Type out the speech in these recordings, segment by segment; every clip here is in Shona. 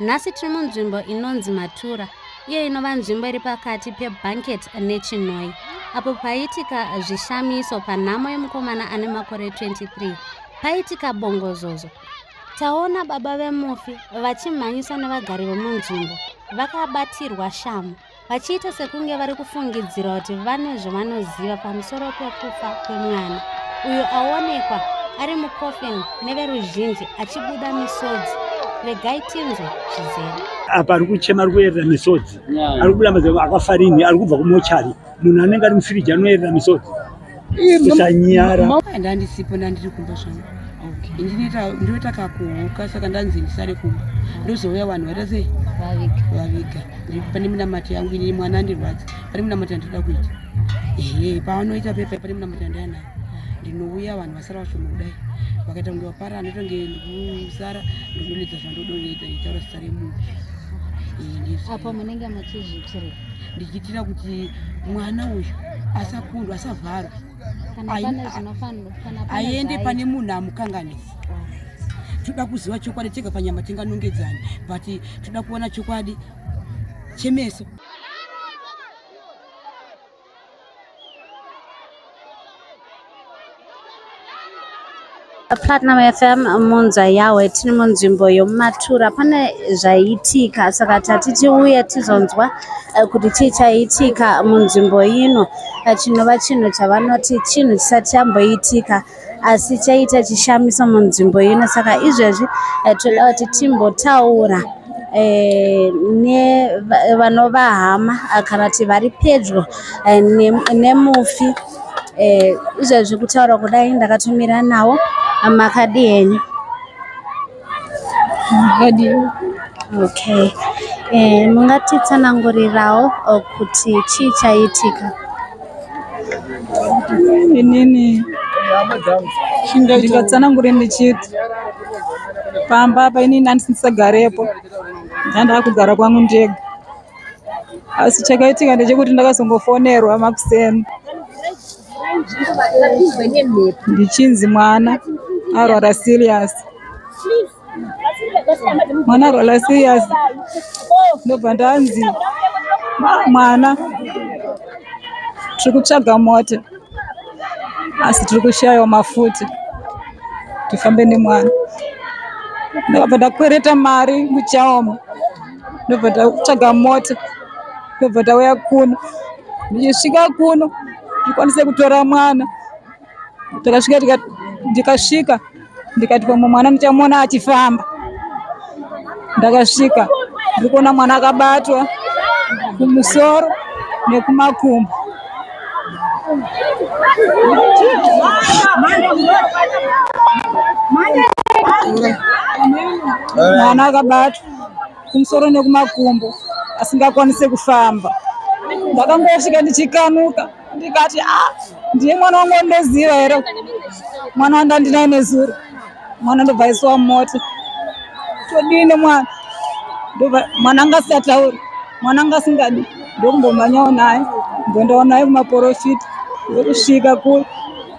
Nhasi tiri munzvimbo inonzi Matura, iyo inova nzvimbo iri pakati peBanket neChinhoyi, apo paiitika zvishamiso panhamo yemukomana ane makore 23. Paiitika bongozozo. Taona baba vemufi vachimhanyiswa nevagari vemunzvimbo, vakabatirwa shamu. vachiita sekunge vari kufungidzira kuti vane zvavanoziva pamusoro pekufa kwemwana uyo aonekwa ari mucoffin neveruzhinji achibuda misodzi regai tinzwe zvizere apa ari kuchema ari kuyerera misodzi ari kubuda mazai akafarini ari kubva kumochari munhu anenge ari mufiriji anoyerera misodzi usanyara ndandisipo ndandiri kumba zvangu ndinoita kakuhuka saka ndanzi ndisare kumba ndozouya vanhu vaita sei vaviga pane minamato yangu ini mwana andirwadza pane minamato yandinoda kuita ehe paanoita pepa pane minamato yandaya nayo ndinouya vanhu vasara vashoma kudai vakaita kunge vapara anoita kunge ndikusara ndikunoledza zvandodonoita nditaura zita remunhu apo munenge muchizvitirei ndichiitira kuti mwana uyu asakundwa asavharwe aende pane munhu amukanganisa toda kuziva chokwadi tega panyama tinganongedzani but toda kuona chokwadi chemeso Platinum FM munza yawe tiri munzvimbo yomumatura pane zvaiitika saka tati tiuye tizonzwa eh, kuti chii chaiitika munzvimbo ino eh, chinova chinhu chavanoti chinhu chisati chamboitika asi chaita chishamiso munzvimbo ino saka izvezvi eh, toda kuti timbotaura eh, nevanova hama eh, kana kuti vari pedyo nemufi izvezvi kutaura kudai ndakatumira nawo makadi henyu Okay. Eh, mungatitsanangurirawo eh, kuti chii chaitika? Inini ndikatsanangure ndichiti pamba apa inini andisisagarepo ndandava kugara kwangu ndega asi chakaitika ndechekuti ndakazongofonerwa makuseni ndichinzi mwana arwara serious mwana arwara serious ndobva ndanzi mwana tiri kutsvaga mota asi tiri kushayawo mafuta tifambe nemwana ndakabva ndakwereta mari muchaoma ndobva tatsvaga mota ndobva tauya kuno ndichisvika kuno ndikwanise kutora mwana takasvika ndikasvika ndikati pamwe mwana ndichamuona achifamba ndakasvika ndiri kuona mwana akabatwa kumusoro nekumakumbo mwana akabatwa kumusoro nekumakumbo asingakwanise kufamba ndakangosvika ndichikanuka ndikati a ah, ndiye mwana wangu wandoziva here mwana wandandinaye nezuro mwana ndobva aisiwa mumota todii nemwana mwana anga asingatauri mwana anga asingadi ndokumbomhanyawo naye ndondawo naye kumaporofita ndokusvika kule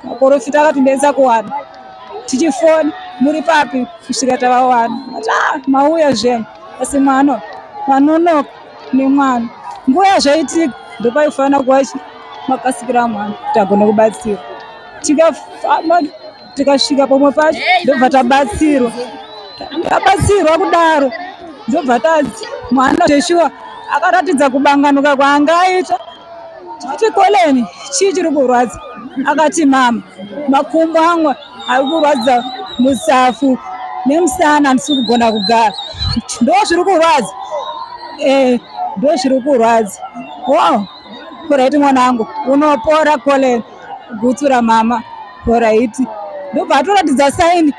maporofita akatibesa kuwana tichifoni muri papi kusvika tavawana ati ah, mauya zvenyu asi mwana vanonoka nemwana nguva yazvaitika ndopaifanira kuva makasikira mwana kuti agone kubatsira tikafamba tikasvika pamwe pacho ndobva tabatsirwa tabatsirwa kudaro ndobva tadzi mwana zveshuwa akaratidza kubanganuka kwaanga aita Chikoleni chii chiri kurwadza? Akati mama, makumbo angu ari kurwadza musafu nemusana handisi kugona kugara. Ndo zviri kurwadza? Eh, ndo zviri kurwadza. Wow, poraiti mwanangu, unopora Colin. Gutsura mama, poraiti. Ndobva atoratidza saini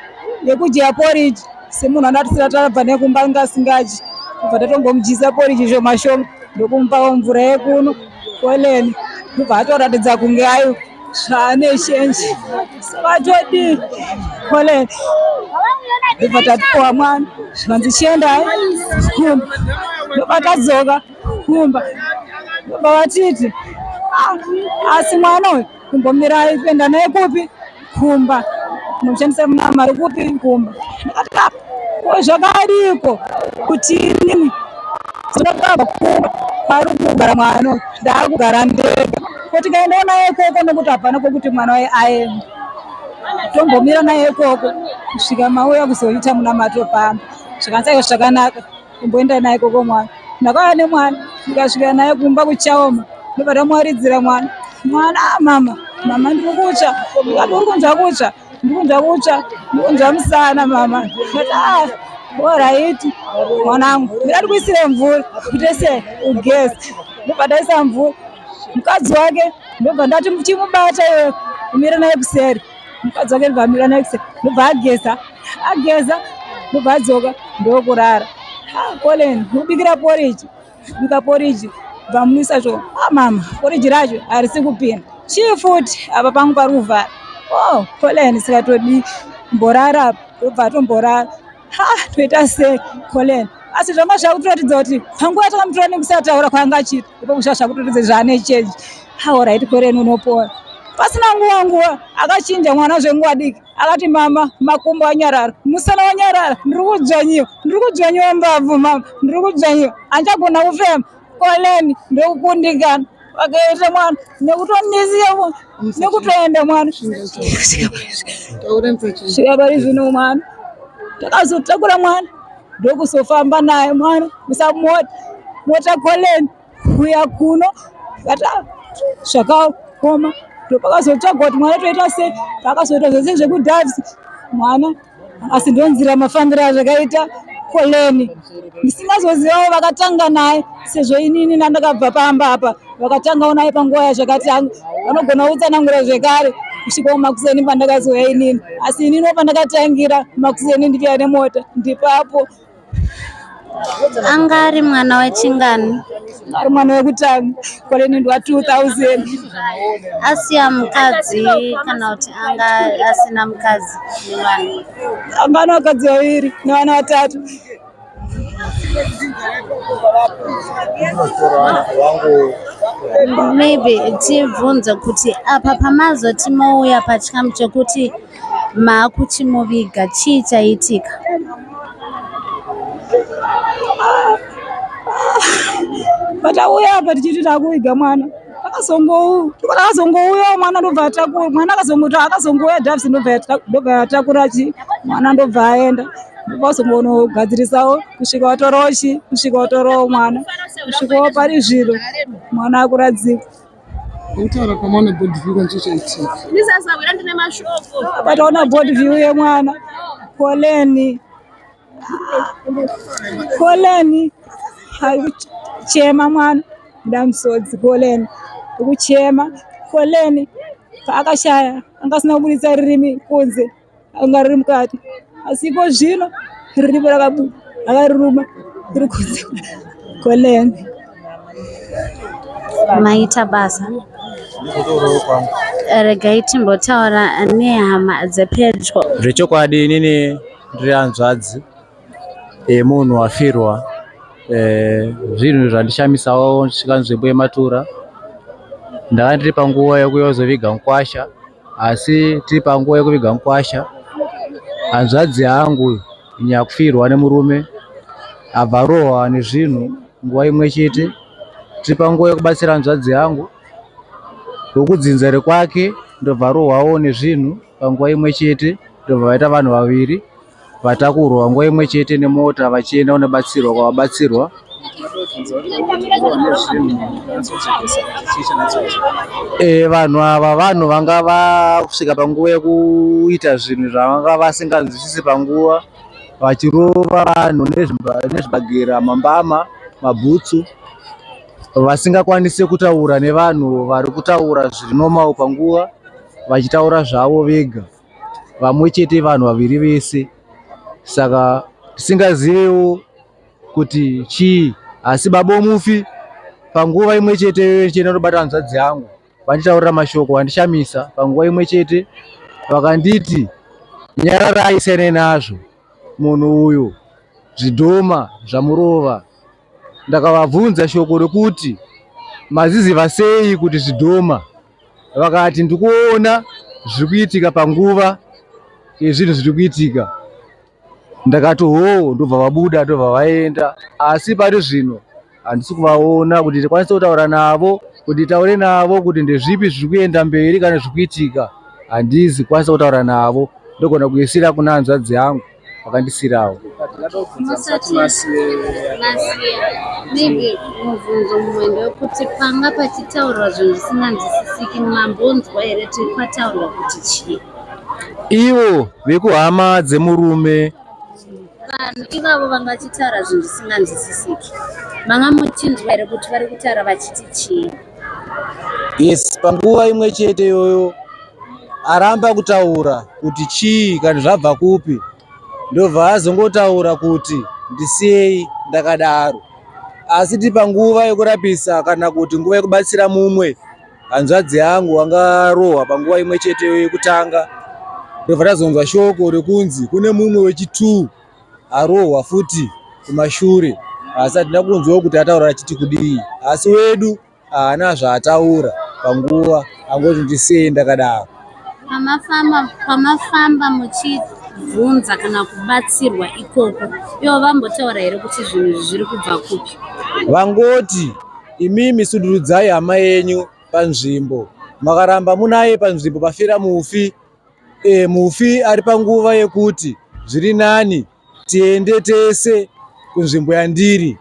yekudya poriji semunhu anoatisira tabva nekumba ngasingadyi. Kubva tatongomudyisa poriji zvomashoma. ndokumupawo mvura yekuno koleni ndobva atoratidza kunge ayo zvaane shenji vatodi koleni ndobva tatipowa mwana zvikanzi chiendai kumba ndobva tadzoka kumba ndobva vatiti ah, asi mwana uyu kumbomirai kuenda naye kupi kumba munoshandisa mna mari kupi kumba ndikatika ko zvakadiko kuti inini zvinotamba kumba ari kugara mwana ndaakugara ndega ko tikaendawo naye ikoko nekuti hapana kokuti mwana waye aenda tombomira naye ikoko kusvika mauya kuzoita munamato pamba zvikanzaiwo zvakanaka kumboenda naye koko mwana ndakauya nemwana ndikasvika naye kumba kuchaoma ndobva tamwaridzira mwana mwana ah, mama mama ndiri kutsva ndikati uri kunzwa kutsva ndiri kunzwa kutsva ndiri kunzwa musana mama ndikati ah, oraiti mwanangu ndati kuisire mvura kutese ugesi ndobva taisa mvura mukadzi wake ndobva ndati chimubata iwe umire naye kuseri mukadzi wake ndobva amira next ndobva ageza ageza ndobva adzoka ndokurara colin ubikira poriji bika poriji bva muisa zvo amama ah, poriji racho harisi kupinda chii futi apa pangu pari kuvhara o oh, colin sikatodii mborara apa ndobva atomborara ha toita sei Colin asi zvanga zvakutoratidza kuti panguva yatakamutora nekusataura kwaanga achiita ipo kusva zvakutoratidza zvaane change haoraiti Colin unopora pasina nguva nguva akachinja mwana zvenguva diki akati mama makumbo anyarara musana wanyarara ndiri kudzvanyiwa ndiri kudzvanyiwa mbabvu mama ndiri kudzvanyiwa andichagona kufema Colin ndokukundikana vakaita mwana nekutondisiya nekutoenda mwana svika pari zvino mwana takazotakura mwana ndokuzofamba naye mwana musamota mota koleni kuya kuno vata zvakaoma ndopakazotsvagwa kuti mwana toita sei pakazoita zvese zvekudhavisi mwana asi ndonzira mafambiro azvakaita koleni ndisingazozivawo vakatanga naye sezvo inini nandakabva pamba apa vakatangawo naye panguva yazvakatanga vanogona kutsanangura zvekare kusvika kumakuseni pandakazouya inini asi inini pandakatangira makuseni ndichiya nemota ndipapo anga ari mwana wechingani ari mwana wekutanga kwalenendwa 2000 asiya mukadzi kana kuti anga asina mukadzi nevana anga ana vakadzi vaviri nevana vatatu maybe tibvunze kuti apa pamazoti mouya pachikamu chekuti Maakuchimuviga chii chaitika? Patauya apa tichiti takuviga mwana akazongouya mwana ndobva atakura mwana akazongouya Davis ndobva atakura chi mwana ndobva aenda ndobva azongogadzirisawo kusvika watorowo chi kusvika watorowo mwana kusvikawo pari zviro mwana akuradzikwa Kutaura kwamaona board view kwacho chaitika. Ini sasa wira ndine mashoko. Pataona board view yemwana. Koleni. Koleni. Chema mwana. Ndamsodzi koleni. Kuchema. Koleni. Paakashaya angasina kuburitsa rurimi kunze. anga riri mukati asi iko zvino riripo rakabuda akariruma riri kunze koleni maita basa regai timbotaura nehama dzepedyo zvechokwadi inini ndiri hanzvadzi yemunhu eh, wafirwa eh, zvinhu zvandishamisawo ndisvika nzvimbo yematura ndakandiri panguva yekuyozoviga mukwasha Asi tiri panguva yekuviga mukwasha, hanzvadzi yangu uyu nyakufirwa nemurume abva rohwa nezvinhu nguva imwe chete. Tiri panguva yekubatsira hanzvadzi yangu wekudzinza rekwake ndobva rohwawo nezvinhu panguva imwe chete ndobva vaita vanhu vaviri. Vatakurwa nguva imwe chete nemota vachienda kunobatsirwa kwavabatsirwa. E, vanhu ava vanhu vanga vasvika panguva yekuita zvinhu zvavanga vasinganzwisisi panguva vachirova vanhu nezvibagera mambama mabhutsu vasingakwanise kutaura nevanhu vari kutaura zviri normal panguva vachitaura zvavo vega vamwe chete vanhu vaviri vese saka tisingazivewo kuti chii asi baba omufi panguva imwe chete yoyo ndichena ndobata hanzvadzi yangu vanditaurira mashoko vandishamisa panguva imwe chete vakanditi nyararai siyane nazvo munhu uyu zvidhoma zvamurova ndakavabvunza shoko rekuti maziziva sei kuti zvidhoma vakati ndikuona zviri kuitika panguva yezvinhu zviri kuitika ndakati hoo ndobva vabuda ndobva vaenda asi pari zvino handisi kuvaona kuti ndikwanise kutaura navo kuti nditaure navo kuti ndezvipi zviri kuenda mberi kana zviri kuitika handizi kwanisa kutaura navo ndogona kuisira kuna hanzvadzi yangu vakandisirawo musati masiya maybe mubvunzo mumwe ndewekuti panga pachitaurwa zvinhu zvisinganzwisisiki mambonzwa here tiri pataurwa kuti chii ivo vekuhama dzemurume vanhu ivavo vanga vachitaura zvinhu zvisinganzwisisiki manga muchinzwa here kuti vari kutaura vachiti chii yes panguva imwe chete iyoyo aramba kutaura kuti chii kana zvabva kupi ndobva azongotaura kuti ndisiyei ndakadaro asi ti panguva yekurapisa kana kuti nguva yekubatsira mumwe hanzvadzi yangu angarohwa panguva imwe chete yekutanga ndobva tazonzwa shoko rekunzi kune mumwe wechitu arohwa futi kumashure asi hatina kunzwawo kuti ataura achiti kudii asi wedu haana zvaataura panguva angoti ndisiyei ndakadaro pamafamba muchibvunza kana kubatsirwa ikoko ivo vambotaura here kuti zvinhu izvi zviri kubva kupi vangoti imimi sudurudzai hama yenyu panzvimbo makaramba munaye panzvimbo pafira mufi e, mufi ari panguva yekuti zviri nani tiende tese kunzvimbo yandiri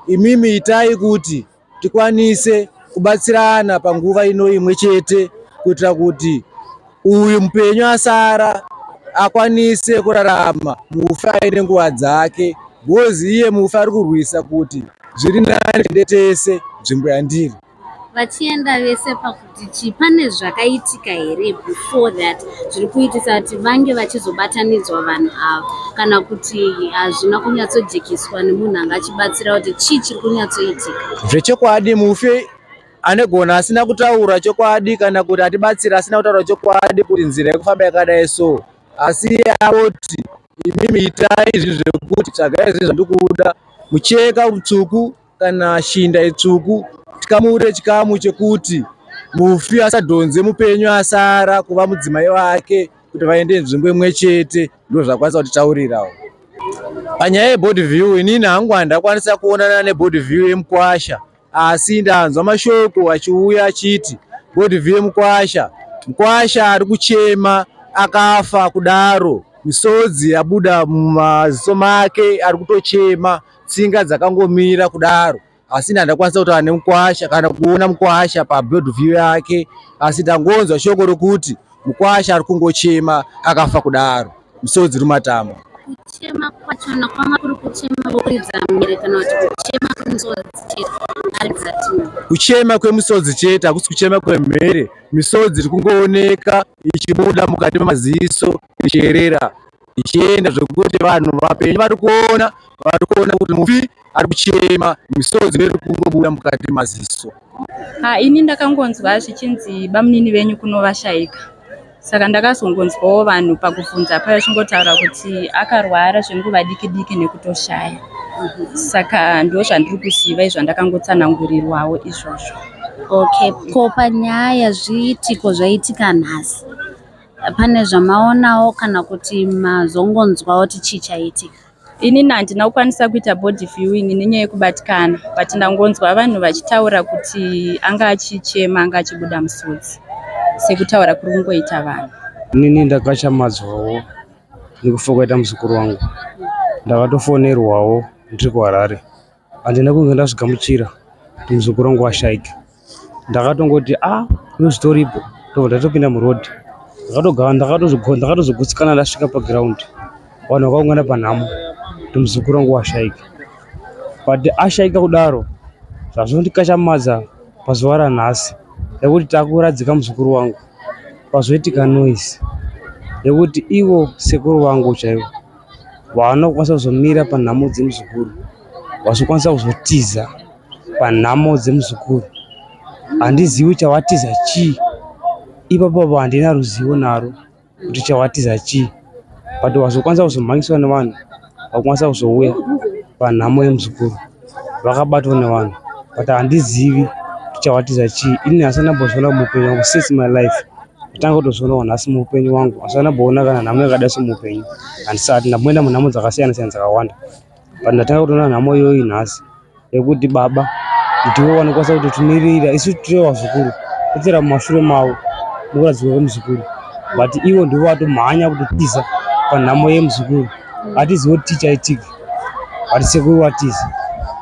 imimi itai kuti tikwanise kubatsirana panguva ino imwe chete kuitira kuti uyu mupenyu asara akwanise kurarama mufi aine nguva dzake bhozi iye mufi ari kurwisa kuti zviri nani tende tese nzvimbo yandiri vachienda vese paku Tichi pane zvakaitika here before that zviri kuitisa kuti vange vachizobatanidzwa vanhu ava kana kuti hazvina kunyatsojekiswa nemunhu anga achibatsira kuti chii chiri kunyatsoitika zvechokwadi mufi anegona asina kutaura chokwadi kana kuti atibatsira asina kutaura chokwadi kuti nzira yekufamba yakadai so asi iye avoti imimi itai izvi zvekuti tsvagai izvi zvandikuda mucheka mutsvuku Kana shinda itsvuku tikamure chikamu chekuti mufi asadhonze mupenyu asara kuva mudzimai wake kuti vaende nzvimbo imwe chete ndozvakwanisa kutitaurirawo panyaya yebody view inini hangu handakwanisa kuonana nebody view yemukwasha asi ndanzwa mashoko achiuya achiti body view yemukwasha mukwasha ari kuchema akafa kudaro misodzi yabuda mumaziso make ari kutochema tsinga dzakangomira kudaro asi ndandakwanisa kutaura nemukwasha kana kuona mukwasha paboard view yake asi ndangonzwa shoko rokuti mukwasha ari kungochema akafa kudaro misodzi rumatama kuchema kwachona kwanga kuri kuchema vokuridza mhere kana kuti kuchema kwemusodzi chete aridza tima kuchema kwemusodzi chete hakusi kuchema kwemhere misodzi iri kungooneka ichibuda mukati memaziso ichierera ichienda zvekuti vanhu vapenyu vari kuona vari kuona kuti mufi ari kuchema misodzi iri kungobuda mukati maziso ha ini ndakangonzwa zvichinzi bamunini venyu kuno vashaika saka ndakazongonzwawo vanhu pakubvunza paya chingotaura kuti akarwara zvenguva diki diki nekutoshaya saka ndo zvandiri kuziva izvo ndakangotsanangurirwawo izvozvo okay ko panyaya zviitiko zvaitika nhasi Pane zvamaonawo kana kuti mazongonzwawo kuti chii chaitika? Inini handina kukwanisa kuita body viewing nenyaya yekubatikana but ndangonzwa vanhu vachitaura kuti anga achichema anga achibuda musodzi sekutaura kuri kungoita vanhu. Inini ndakachamadzwawo nekufa kwaita muzukuru wangu ndakatofonerwawo ndiri kuHarare. handina kunge ndazvigamuchira kuti muzukuru wangu washaika ndakatongoti a ah, unozvitoripo tobva tatopinda muroad ndakatogara ndakatozogutsikana ndasvika paground vanhu vakaungana panhamo kuti muzukuru wangu washaika but ashaika kudaro zvazvondikashamadza pazuva ranhasi nekuti takuradzika muzukuru wangu pazoitika noise nekuti ivo sekuru vangu chaivo vaanokwanisa kuzomira panhamo dzemuzukuru vazokwanisa kuzotiza panhamo dzemuzukuru handizivi chawatiza chii ipapavo handina ruzivo naro kuti chawatiza chii but vazokwanisa kuzomhangiswa nevanhu vakwanisa kuzouya panhamo yemuzukuru vakabatwa nevanhu but handizivi kuti chawatiza chii ini hasati ndambozviona muupenyu wangu since my life ndotanga kutozvionawo nhasi muupenyu wangu hasati ndamboona kana nhamo yakadai so muupenyu handisati ndamboenda munhamo dzakasiyana siyana dzakawanda but ndatanga kutoona nhamo iyoyi nhasi yekuti baba ndiwo wanokwanisa kuti timirira isu tiri vazukuru totsera mumashure mavo mukuradzikwa kwemuzukuru but ivo ndivo vatomhanya kutotiza panhamo yemuzukuru hatizivi kuti chii chaitika but sekuru watiza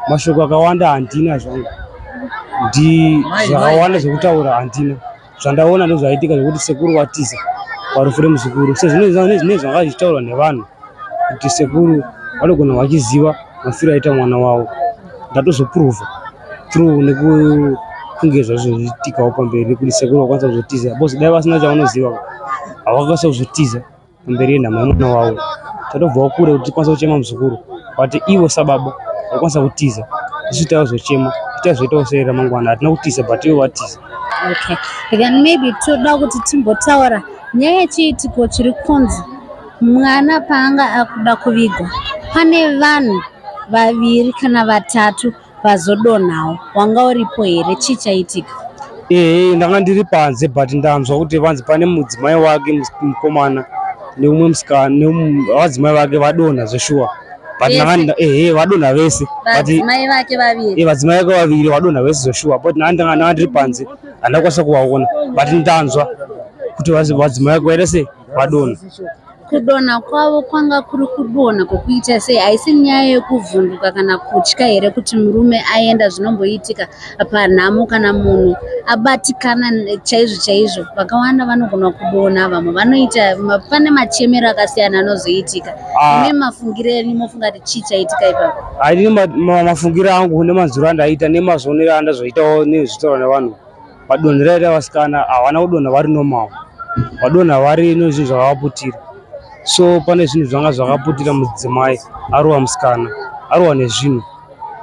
mashoko akawanda handina zvangu ndi zvakawanda zvekutaura handina zvandaona ndozvaitika zvekuti sekuru watiza parufu remuzukuru sezvinezvine zvanga zvichitaurwa nevanhu kuti sekuru vanogona vachiziva mafiro aita mwana wavo ndatozopuruvha through nekukunge zvazozvitikawo pamberi nekuti sekuru vakwanisa kuzotiza bcause dai vasina chavanoziva havakwanisa kuzotiza kumberi nhamo yemwana wavo tatobvawo kure kuti tikwanisa kuchema muzukuru but ivo sababa vakwanisa kutiza isu taizochema tichazoitawo sei ramangwana hatina kutiza but ivo vatiza okay then maybe toda kuti timbotaura nyaya yechiitiko chiri kunzi mwana paanga akuda kuvigwa pane vanhu vaviri kana vatatu Pazodonhawo wanga uripo here chii chaitika? Ehe ndanga ndiri panze but ndanzwa kuti vanzi pane mudzimai wake mus- mukomana neumwe musikana nevadzimai vake vadonha zveshuwa but Vese? ndanga nda- ehe vadonha vese but Vadzimai vake vaviri. eh, vadzimai vake vaviri vadonha vese zveshuwa but ndanga ndanga ndanga ndiri panze handakwanisa kuvaona but ndanzwa kuti vadzi- vadzimai vake vaita sei vadonha Kudonha kwavo kwanga kuri kudonha kwokuita sei? Haisi nyaya yekuvhunduka kana kutya here kuti murume aenda? Zvinomboitika panhamo kana munhu abatikana ne- chaizvo chaizvo. Vakawanda vanogona kudonha, vamwe vanoita, ma- pane machemero akasiyana anozoitika. Ah. Imi mafungire enyu mofunga kuti chii chaitika ipapo? Haidini ma- ma- mafungiro angu nemanzwiro andaiita nemazvionero andazoitawo nezvitaura nevanhu. Padonho raye revasikana havana kudonha vari normal, vadonha vari nezvinhu zvakavaputira. So pane zvinhu zvanga zvakaputira mudzimai arowa musikana, arowa nezvinhu,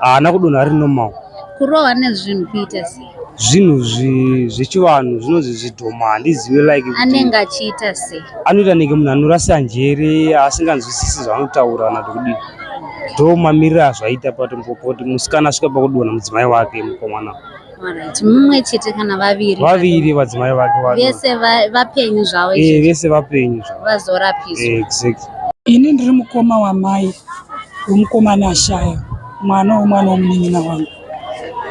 haana kudonha ari normal. Kurowa nezvinhu kuita sei? zvinhu zvechivanhu zvinonzi zvidhoma handizive like anenge achiita sei anoita nenge munhu anorasa njere asinganzwisisi zvaanotaura kana kuti kudii ndo mamiriro azvaita patombo kuti musikana asvika pakudonha mudzimai wake mukomana Alright, mumwe chete kana vaviri vaviri vadzimai vake vano- vese va- vapenyu zvavo Eh, vese vapenyu zvavo vazorapiswa Eh, exactly Ini ndiri mukoma wamai wemukomana ashaya mwana wemwana womunin'ina wangu.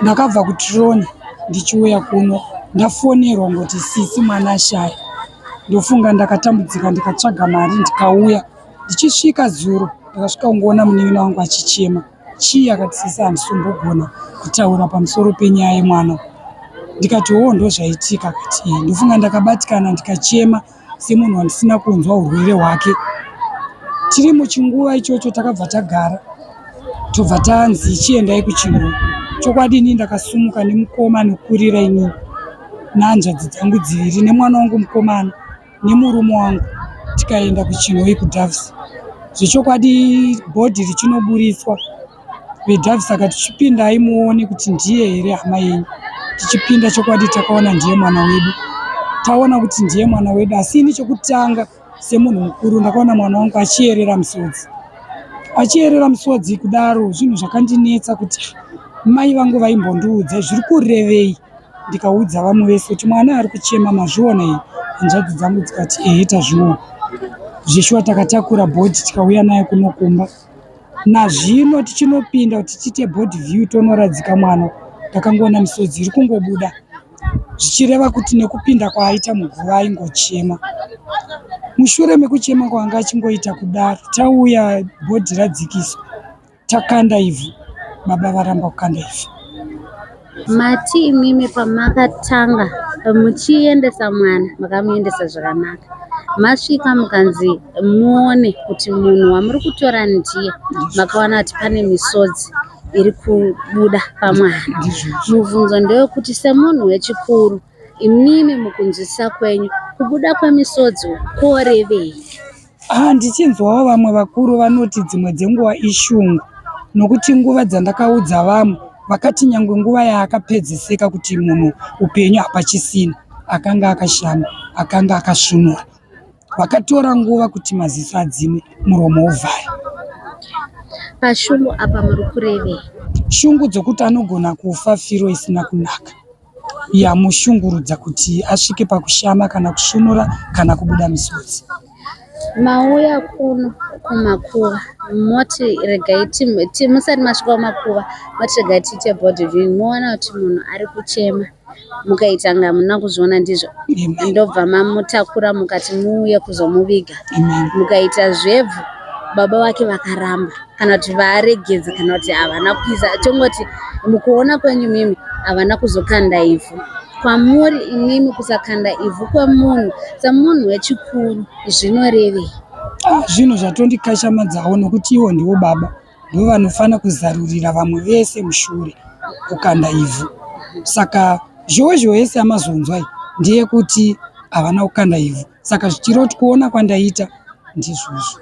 Ndakabva kuTrone ndichiuya kuno ndafonerwa ngoti sisi mwana ashaya. Ndofunga ndakatambudzika ndikatsvaga mari ndikauya. Ndichisvika zuro ndakasvika kungoona munin'ina wangu achichema. Chii akati sisi handisombogona kutaura pamusoro penyaya yemwana ndikati hoo ndozvaitika akati ehe ndofunga ndakabatikana ndikachema semunhu wandisina kunzwa urwere hwake tiri muchinguva ichocho takabva tagara tobva tanzi chiendai kuchinhu chokwadi ini ndakasumuka nemukoma nokurira inini nehanzvadzi dzangu dziviri nemwana wangu mukomana nemurume wangu tikaenda kuchinhoyi kudoves zvechokwadi bhodhi richinoburitswa vedoves saka tichipindai muone kuti ndiye here hama yenyu tichipinda chokwadi takaona ndiye mwana wedu taona kuti ndiye mwana wedu asi ini chekutanga semunhu mukuru ndakaona mwana wangu achiyerera misodzi achiyerera misodzi kudaro zvinhu zvakandinetsa kuti mai vangu vaimbondiudza zviri kurevei ndikaudza vamwe vese kuti mwana ari kuchema mazviona here hanzvadzi dzangu dzikati ehe tazviona zveshuwa takatakura bhodhi tikauya naye kuno kumba nazvino tichinopinda kuti tiite bhodhi view tonoradzika mwana ndakangoona misodzi iri kungobuda zvichireva kuti nekupinda kwaaita muguva aingochema mushure mekuchema kwaanga achingoita kudaro tauya bhodhi radzikiswa Takanda ivhu, baba varamba kukanda ivhu. Mati imimi pamakatanga muchiendesa mwana makamuendesa zvakanaka masvika mukanzi muone kuti munhu wamuri kutora ndiye makawana kuti pane misodzi iri kubuda pamwana mubvunzo ndewekuti semunhu wechikuru imimi mukunzwisisa kwenyu kubuda kwemisodzi korevei Ah, ndichinzwawo vamwe vakuru vanoti dzimwe dzenguva ishungu nokuti nguva dzandakaudza vamwe vakati nyangwe nguva yaakapedziseka kuti munhu upenyu hapachisina akanga akashama akanga akasvunura vakatora nguva kuti maziso adzime muromo uvhare pashungu apa muri kurevei shungu dzokuti anogona kufa firo isina kunaka yamushungurudza kuti asvike pakushama kana kusvunura kana kubuda misodzi. Mauya kuno kumakuva moti regai musati masvika kumakuva moti regai tiite body viewing moona kuti munhu ari kuchema mukaita nga muna kuzviona ndizvo ndobva mamutakura mukati muuye kuzomuviga mukaita zvebvu baba vake vakaramba kana kuti vaaregedza kana kuti havana kuisa tongoti mukuona kwenyu mimi havana kuzokanda ivhu kwamuri imimi kusakanda ivhu kwemunhu semunhu wechikuru zvinorevei ah, zvinhu zvatondikashamadzawo nokuti ivo ndivo baba ndivo vanofanira kuzarurira vamwe vese mushure kukanda ivhu saka zhowe zhowe yese yamazonzwai ndeyekuti havana kukanda ivhu saka zvichiroti kuona kwandaita ndizvozvo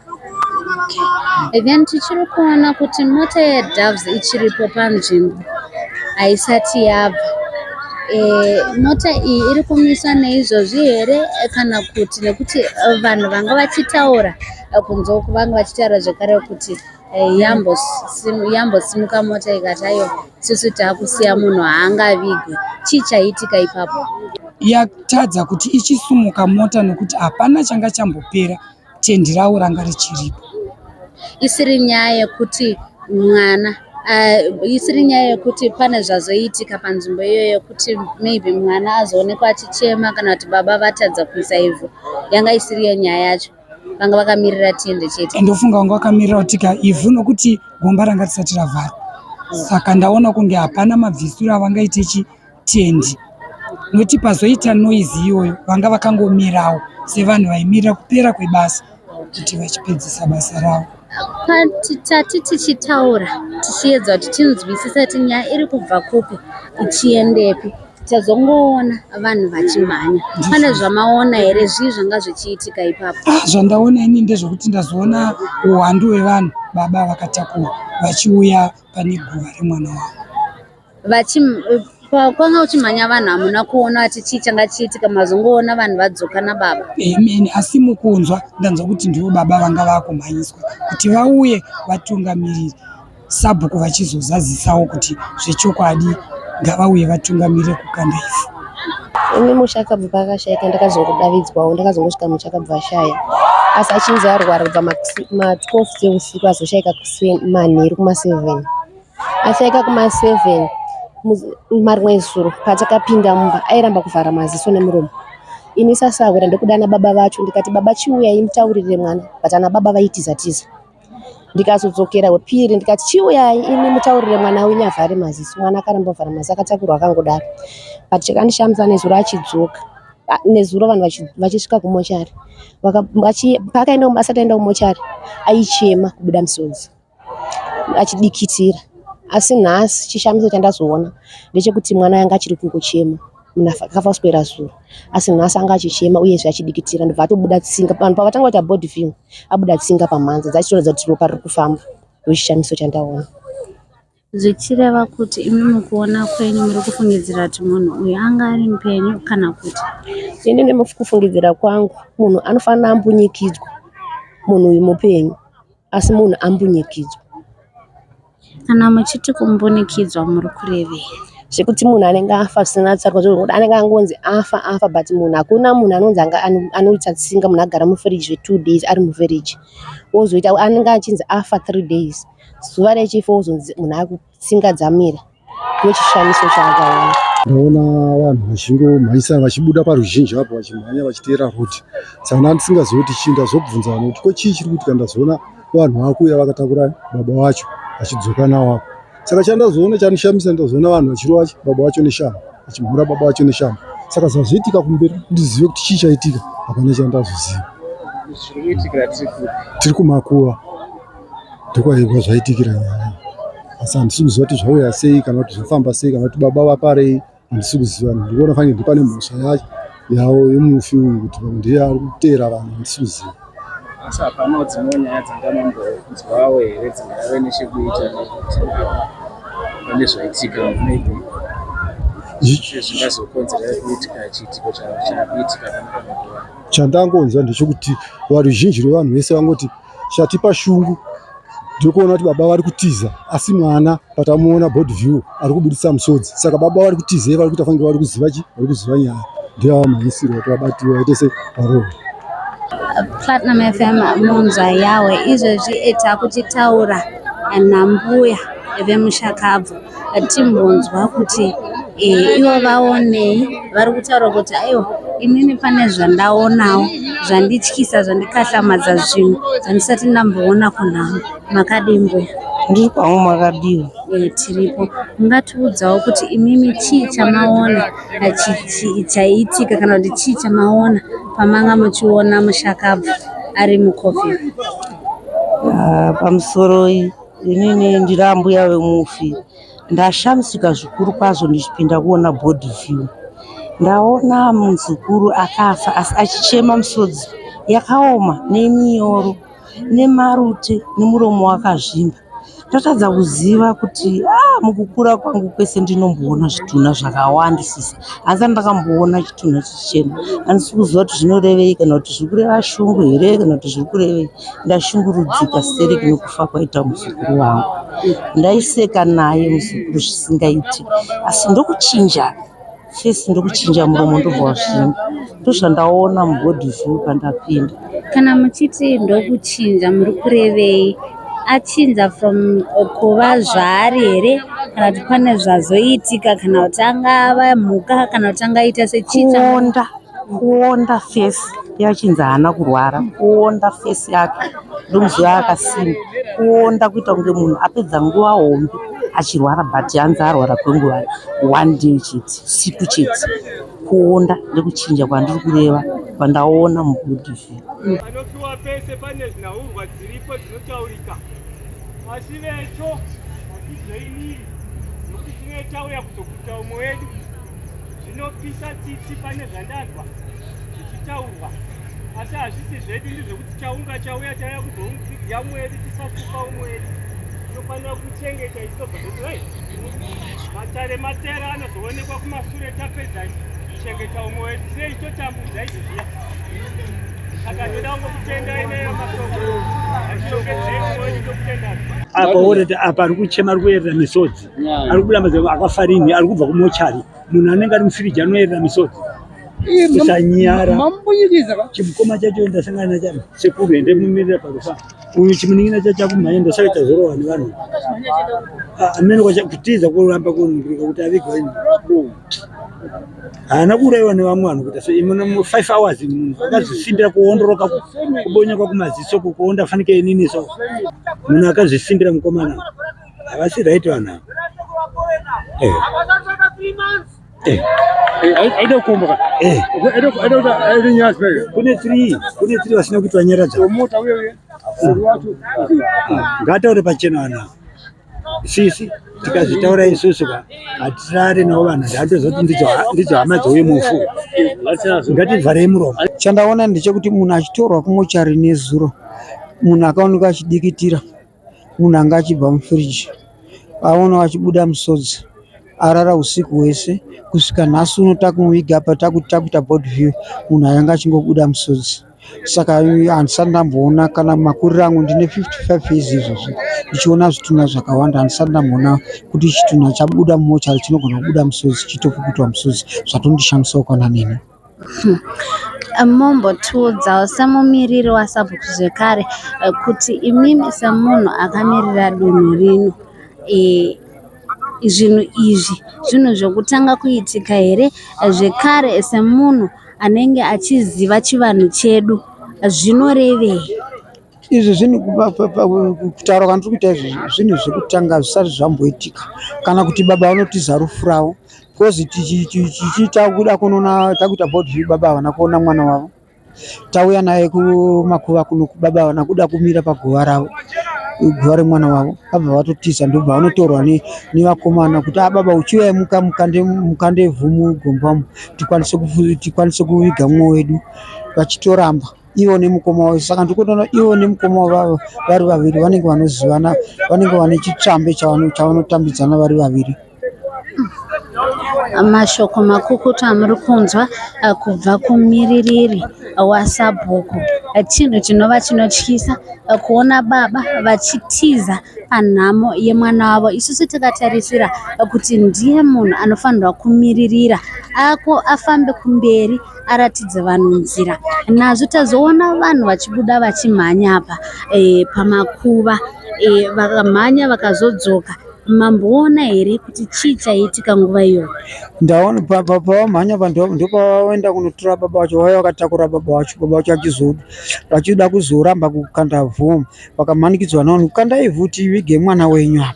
then tichiri kuona kuti mota yedoves ichiripo panzvimbo haisati yabva e, mota iyi iri kumiswa neizvozvi here kana kuti nekuti vanhu vanga vachitaura kunze uku vanga vachitaura zvekare kuti Eh, yambosimuka mota ikati ayo susu taakusiya munhu haangavigwe chii chaiitika ipapo yatadza kuti ichisumuka mota nokuti hapana changa chambopera tendi ravo ranga richiripo isiri nyaya yekuti mwana eh, isiri nyaya yekuti pane zvazoitika panzvimbo iyoyo yekuti maybe mwana azoonekwa achichema kana kuti baba vatadza kuisa ivhu yanga isiriyo nyaya yacho vanga vakamirira tende chete ndofunga vanga vakamirira kutika ivhu nokuti gomba ranga risati ravharwa saka ndaona kunge hapana mabvisiro avangaite chitendi noti pazoita noizi iyoyo vanga vakangomirawo sevanhu vaimirira kupera kwebasa kuti vachipedzisa basa ravo tati tichitaura tichiedza kuti tinzwisisa kuti nyaya iri kubva kupi ichiendepi Tazongoona vanhu vachimhanya. Pane zvamaona here zvii zvanga zvichiitika ipapo? Ah, zvandaona ini ndezvekuti ndazoona uwandu hwevanhu baba vakatakura vachiuya pane guva remwana wavo kwanga uchimhanya vanhu hamuna kuona ati chii changa chiitika mazongoona vanhu vadzoka nababa amen asi mukunzwa ndanzwa kuti ndivo baba vanga vakumhanyiswa kuti vauye vatungamiriri sabhuku vachizozazisawo kuti zvechokwadi ngavauye vatungamire kukanda ivhu ini musha akabva paakashaika ndakazongodavidzwawo ndakazongosvika musha akabva ashaya asi achinzi arwara kubva ma12 dzeusiku azoshaika manheru kuma7 ashaika kuma7 marimwe zuro patakapinda mumba airamba kuvhara maziso nemuromo ini sasahwira ndokudana baba vacho ndikati baba chiuyai mutaurire mwana but ana baba vaitizatiza Ndikazodzokera wepiri ndikati chiuyai imi mutaurire mwana wenyu avhare maziso. Mwana akaramba kuvhara maziso akatakurwa akangodaro. But chakandishamisa nezuro achidzoka ah, nezuro vanhu vachisvika kumochari paakaenda asati aenda kumochari aichema kubuda misodzi achidikitira asi nhasi chishamiso chandazoona ndechekuti mwana yanga achiri kungochema. Munhu akafa kuswera zuro asi nhasi anga achichema uyezve achidikitira ndobva atobuda tsinga. Vanhu pavatanga kuita body film abuda tsinga pamhanza dzachitoratidza kuti ropa riri kufamba. Ndochishamiso chandaona. Zvichireva kuti imi mukuona kwenyu muri kufungidzira kuti munhu uyu anga ari mupenyu kana kuti? Ini nemukufungidzira kwangu munhu anofanira ambunyikidzwa munhu uyu mupenyu. Asi munhu ambunyikidzwa. Kana muchiti kumbunikidzwa muri kurevei? Zvekuti munhu anenge afa zvisina tsarukwa zvekuti anenge angonzi afa afa but munhu hakuna munhu anonzi anga anoita tsinga munhu agara mufiriji zve two days ari mufiriji ozoita anenge achinzi afa three days zuva rechifa wozonzi munhu aku Tsinga dzamira nechishamiso chaakaona. Ndaona vanhu vachingomhanyisa vachibuda paruzhinji apo vachimhanya vachiteera road saka ndandisingazivi kuti chii ndazobvunza vanhu kuti ko chii chiri kuitika ndazoona vanhu vakuuya vakatakura baba vacho vachidzoka nawo apo saka chandazoona chanishamisa ndazoona vanhu vachirova baba vacho neshamba vachimhura baba vacho neshamba saka zvazoitika kumberi ndizive kuti chii chaitika hapana chandazoziva tiri kumakuva Ndokwaiva zvaitikira nyaya asi handisi kuziva kuti zvauya sei kana kuti zvafamba sei kana kuti baba vaparei handisi kuziva ndikuona fange ndipane mhosva yacho yawo yemufi uyu kuti pamwe ndiye ari kuteera vanhu handisi kuziva asi hapanawo dzimwe nyaya dzangamambokunzwawo here dzingave nechekuita pane zvaitika maybe zvingazokonzera kuitika chiitiko chaitika chandangonzwa ndechekuti varuzhinji rwevanhu vese vangoti chatipa shungu ndokuona kuti baba vari kutiza asi mwana patamuona body view ari kubuditsa musodzi saka baba vari kutiza iye vari kuita fanike vari kuziva chi vari kuziva nyaya ndiyo mhanyisiro kuti vabatiwe vaite se parova platinum fm munzwa yawe izvezvi etakuchitaura nambuya vemushakabvu timbonzwa kuti eh, ivo vaonei vari kutaura kuti aiwa inini pane zvandaonawo zvandityisa zvandikatlamadza zvinhu zvandisati ndamboona kunhamo makadii mbuya ndiri kwavo makadiwa eh, tiripo ungatiudzawo kuti imimi chii chamaona chaiitika kana kuti chii chamaona pamanga muchiona mushakabvu ari mucovid ah, pamusoro Inini ndiri ambuya vemufi ndashamisika zvikuru kwazvo ndichipinda kuona body view ndaona muzukuru akafa asi achichema misodzi yakaoma neminyoro nemarute nemuromo wakazvimba ndatadza kuziva kuti ah, mukukura kwangu kwese ndinomboona zvitunha zvakawandisisa asi andakamboona chitunha chichema andisi kuziva kuti zvinorevei kana kuti zviri kureva shungu here kana kuti zviri kurevei Ndashungurudzika stereki nokufa kwaita muzukuru wangu. Ndaiseka naye muzukuru zvisingaiti asi ndokuchinja face ndokuchinja muromo ndobva wazvimba. Ndozvandaona mubody view pandapinda. Kana muchiti ndokuchinja muri kurevei? Achinja from kuva zvaari here kana kuti pane zvazoitika kana kuti anga ava mhuka kana kuti anga aita sechii? Kuonda Kuonda face yachinzi haana kurwara, kuonda face yake ndomuziva akasimba, kuonda kuita kunge munhu apedza nguva hombe achirwara but hanzi arwara kwenguva one day chete, siku chete. Kuonda ndekuchinja kwandiri kureva kwandaona mubody view. Panopiwa pese pane zvinhaurwa dziripo dzinotaurika asi vecho hatizveimiri nokuti tine tauya kuzokudza umwe wedu zvinopisa tsitsi pane zvandanzwa zvichitaurwa asi hazvisi zvedu ndizvekuti chaunga chauya chauya kuzoudya umwe wedu tisasuka umwe wedu tinofanira kuchengeta isobvai matare matera anozoonekwa kumasure tapedza kuchengeta umwe wedu sei totambudza izvi zviya saka ndoda kungokutenda ineyo masoko achitongedzei umwe wedu tokutenda apa uri apa ari kuchema ari kuyerera misodzi ari kubuda mazai akafa rini ari kubva kumochari munhu anenge ari mufiriji anoyerera misodzi kusanyara chimukoma chacho ndasangana nachano sekuru ende mumirira pakufa uyu chimunin'ina chacho akumhanya ndosaka chazorowa nevanhu amene kutiza kuramba kuningirika kuti avigwa ini haana kuuraiwa nevamwe vanhu kuita so imwe five hours munhu akazvisimbira kuondoroka kubonyoka kumaziso kukuonda fanike inini so munhu akazvisimbira mukomana Havasi right vanhu ava. Eh. Eh. Eh, aida kukomboka kune three kune three vasina kuitwa nyaradza ngataure pachena vanhu ava sisi tikazvitaura isusu ka hatisare navo vanhu ndatozoti ndidzo hama dzouye mufu ngativharei muromo chandaona ndechekuti munhu achitorwa kumochari nezuro munhu akaonekwa achidikitira munhu anga achibva mufridge aonawo achibuda musodzi arara husiku hwese kusvika nhasi uno takumuviga apa takuita board view munhu ayanga achingobuda musodzi saka handisati ndamboona kana makuriro angu ndine 55 years izvozvi ndichiona zvitunha zvakawanda handisati ndamboona kuti chitunha chabuda mumochari chinogona kubuda musodzi chitopukutwa musodzi zvatondishandisawo kwana neni Mombotiudzawo semumiriri waSABC zvekare kuti imimi semunhu akamirira dunhu rino zvinhu izvi zvinhu zvekutanga kuitika here zvekare semunhu anenge achiziva chivanhu chedu zvinorevei? Izvi zvinhu kutaura kwandiri kuita izvi zvinhu zvekutanga zvisati zvamboitika kana kuti baba vanotiza rufu ravo Because tichiita kuda kunoona takuita board view baba havana kuona mwana wavo. Tauya naye kumakuva kuno kubaba havana kuda kumira paguva ravo. Guva remwana wavo. Vabva vatotiza ndobva vanotorwa nevakomana kuti ah baba uchiuya muka mukande mukande vhumu gombamo tikwanise tikwanise kuviga mumwe wedu vachitoramba ivo nemukoma wavo saka ndikutoona ivo nemukoma wavo vari vaviri vanenge vanozivana vanenge vane chitsvambe chavanotambidzana vari vaviri Mashoko makukutu amuri kunzwa eh, kubva kumiririri wasabhuku eh, chinhu chinova chinotyisa eh, kuona baba vachitiza panhamo yemwana wavo isusu takatarisira kuti ndiye munhu anofanirwa kumiririra ako afambe kumberi aratidze vanhu nzira nazvo tazoona vanhu vachibuda vachimhanya apa pamakuva vakamhanya vakazodzoka Mamboona here kuti chii chaiitika nguva iyoyo? Ndaona pa- pa- pavamhanya vanhu avo ndopavaenda kunotora baba vacho vauya vakatakura baba vacho baba vacho vachizoda vachida kuzoramba kukanda vhu vakamanikidzwa navanhu kukanda ivhu tivige mwana wenyu apa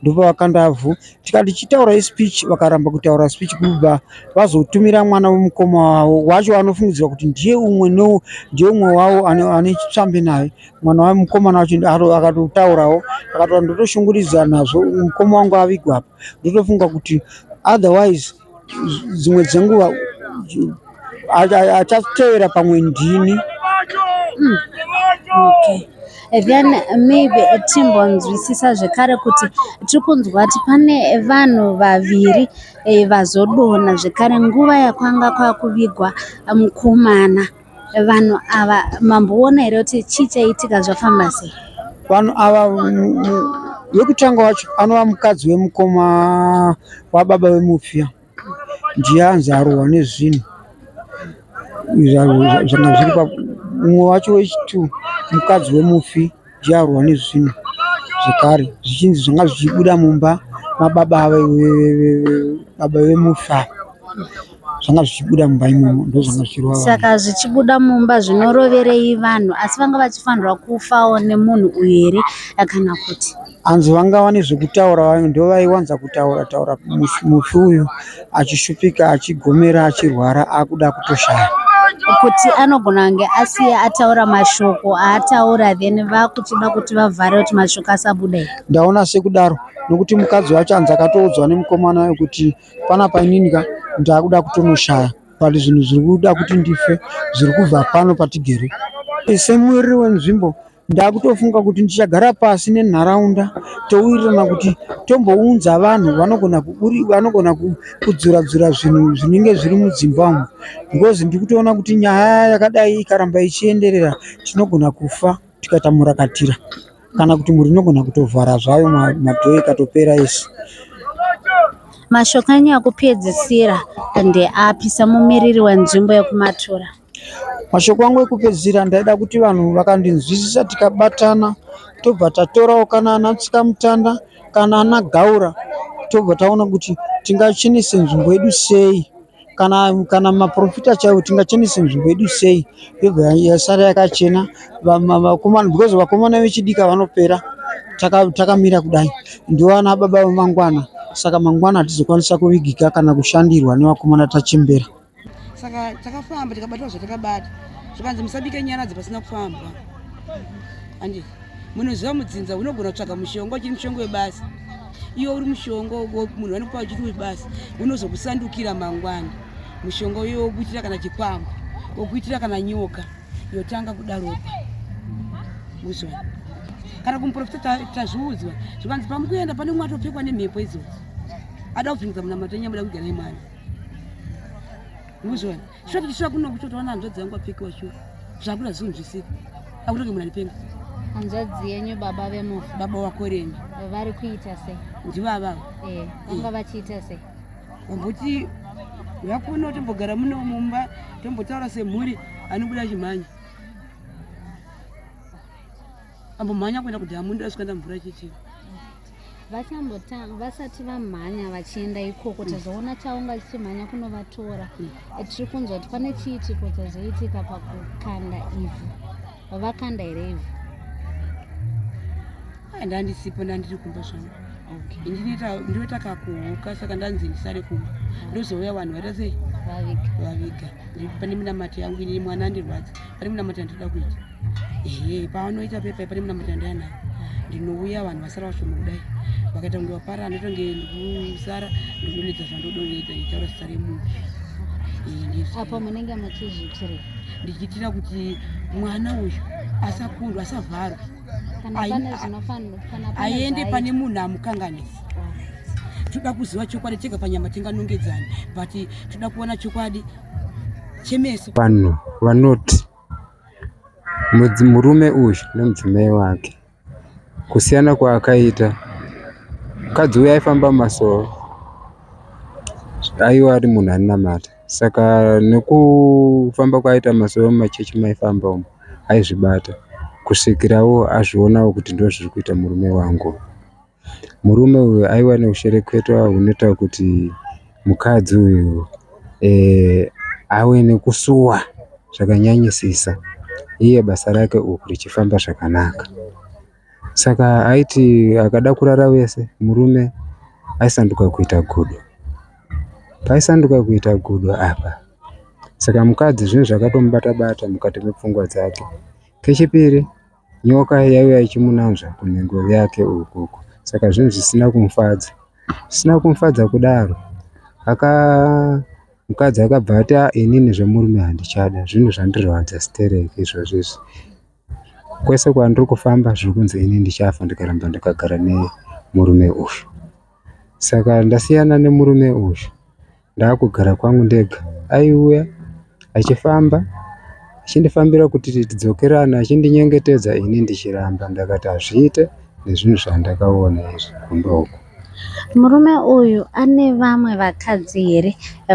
ndopavakanda vhu tikati chitaura speech vakaramba kutaura speech kubva vazotumira mwana wemukoma wavo wacho anofungidzirwa kuti ndiye umwe no ndiye umwe wavo ane ane chitsvambe naye mwana wa mukomana wacho akatotaurawo akatoa ndotoshungurudzwa nazvo mukoma wangu avigwa apa ndotofunga kuti otherwise dzimwe dzenguva achatevera pamwe ndini hmm. okay. then maybe eh, timbonzwisisa zvekare kuti tiri kunzwa kuti pane vanhu vaviri eh, vazodona zvekare nguva yakwanga kwakuvigwa mukomana Vanhu ava mamboona here kuti chii chaiitika zvafamba sei? Vanhu ava wekutanga wacho anova mukadzi wemukoma wababa vemupfiya ndiye anzi arohwa nezvinhu zvanga zviri umwe wacho wechitu mukadzi wemufi zvidyarwa nezvinhu zvekare zvichinzi zvanga zvichibuda mumba mababa baba vemufi ava zvanga zvichibuda mumba imomo ndozvanga zvichirova saka zvichibuda mumba zvinoroverei vanhu asi vanga vachifanirwa kufawo nemunhu uyu here kana kuti hanzi vangava nezvekutaura vamwe ndovaiwanza kutaura taura mufi uyu achishupika achigomera achirwara akuda kutoshaya kuti anogona kunge asiya ataura mashoko aataura then vakuchida kuti vavhare kuti mashoko asabude ndaona sekudaro nokuti mukadzi wacho anzi akatoudzwa nemukomana wayo kuti pana painini ka ndaakuda kutonoshaya but zvinhu zviri kuda kuti ndife zviri kubva pano patigere semuriri wenzvimbo Ndakutofunga kuti ndichagara pasi nenharaunda towirirana kuti tombounza vanhu vanogona kuburi vanogona ku- kudzura dzura zvinhu zvinenge zviri mudzimba umu because ndikutoona kuti nyaya yakadai ikaramba ichienderera tinogona kufa tikaita murakatira kana kuti mhuri inogona kutovhara zvayo ma- madhoo ikatopera yese. Mashoko enyu ekupedzisira ndeapi semumiriri wenzvimbo yekuMatura? Mashoko angu ekupedzisira ndaida kuti vanhu vakandinzwisisa tikabatana tobva tatorawo kana ana tsikamutanda kana ana gaura tobva taona kuti tingachenese nzvimbo yedu sei kana kana maprofita chaiwo tingachenese nzvimbo yedu sei yobva yasara yakachena Vama- vakomana because vakomana vechidika vanopera taka- takamira kudai ndovana baba vemangwana saka mangwana hatizokwanisa kuvigika kana kushandirwa nevakomana tachembera saka takafamba tikabatwa zvatakabata zvikanzi musabike nyara dzipasina kufambwa andi munoziva mudzinza unogona kutsvaga mushonga uchiri mushonga webasa iwe uri mushonga munhu vanokupa uchiri webasa unozokusandukira mangwana mushonga uyo wokuitira kana chikwambo wokuitira kana nyoka yotanga kuda ropa uzwa kana kumuprofita tazviudzwa zvikanzi pamukuenda pane umwe atopfekwa nemhepo idzodzo ada kuvhinza munamato enyamuda kuigana imwana muzviona shuwa kuti shuwa kuno kutotoona hanzvadzi yangu apfekiwa shuwa zvakuda zvisinzvisiri akutoke munhu anipenda hanzvadzi yenyu baba vemufi baba wako renyu vari kuita sei ndivo avavo eh, vanga eh. vachiita sei vamboti vakuno tombogara muno mumba tombotaura semhuri anobuda chimhanya ambomhanya kuenda kudhamu ndasvika ndamvura chichii vachambotanga vasati vamhanya vachienda ikoko tazoona chaunga chichimhanya kunovatora tiri kunzwa kuti pane chiitiko chazoitika pakukanda ivhu vakanda here ivhu ndandisipo ndandiri kumba zvangu ndinoita kakuhuka saka ndanzi ndisare kumba ndozouya vanhu vaita sei vaviga pane minamato yangu ini mwana andirwadza pane minamato yandinoda kuita ehe pavanoita pepa pane muna matanda yana ndinouya vanhu vasara vashoma kudai vakaita kunge vapara anotonge ndikusara ndikudonedza zvandodoita nditaura zita remunhu apo munenge muchizviitire ndichiitira kuti mwana uyu asakundwa asavharwa aende pane munhu amukanganisa toda kuziva chokwadi tega panyama tinganongedzani but toda kuona chokwadi chemeso vanhu vanoti Murume uyu nemudzimai wake kusiyana kwaakaita mukadzi uya aifamba mumasowe aive ari munhu anonamata saka nekufamba kwaaita mumasowe mumachechi maaifamba umu aizvibata kusvikirawo azvionawo kuti ndozviri kuita murume wangu. Murume uyu aiva neushereketwa hunoita kuti mukadzi uyu eh, ave nekusuwa zvakanyanyisisa iye basa rake uku richifamba zvakanaka. Saka aiti akada kurara vese murume aisanduka kuita gudo. Paisanduka kuita gudo apa, saka mukadzi zvinhu zvakatomubata-bata mukati mepfungwa dzake. Kechipiri Nyoka yaiva ichimunanzva kunhengo yake uku uku saka zvinhu zvisina kumufadza. Zvisina kumufadza kudaro aka mukadzi akabva ati "Ah, inini zvemurume handichada zvinhu zvandirwadza stereki izvozvo izvi. Kwese kwandiri kufamba zviri kunzi ini ndichafa ndikaramba ndakagara nemurume uyu. Saka ndasiyana nemurume uyu Ndakugara kwangu ndega. Aiuya achifamba achindifambira kuti tidzokerane achindinyengetedza ini ndichiramba ndakati hazviite nezvinhu zvandakaona izvi kumba uku. Murume uyu ane vamwe vakadzi here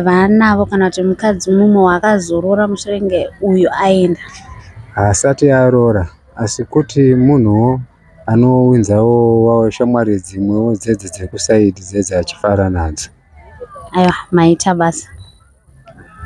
vaanavo kana kuti mukadzi mumwe waakazorora mushure uyu aenda? Haasati aroora asi kuti munhuwo Anowinzawo wawo shamwari dzimwewo dzedzi dzekusaidi dzedzi achifara nadzo. Aiwa maita basa.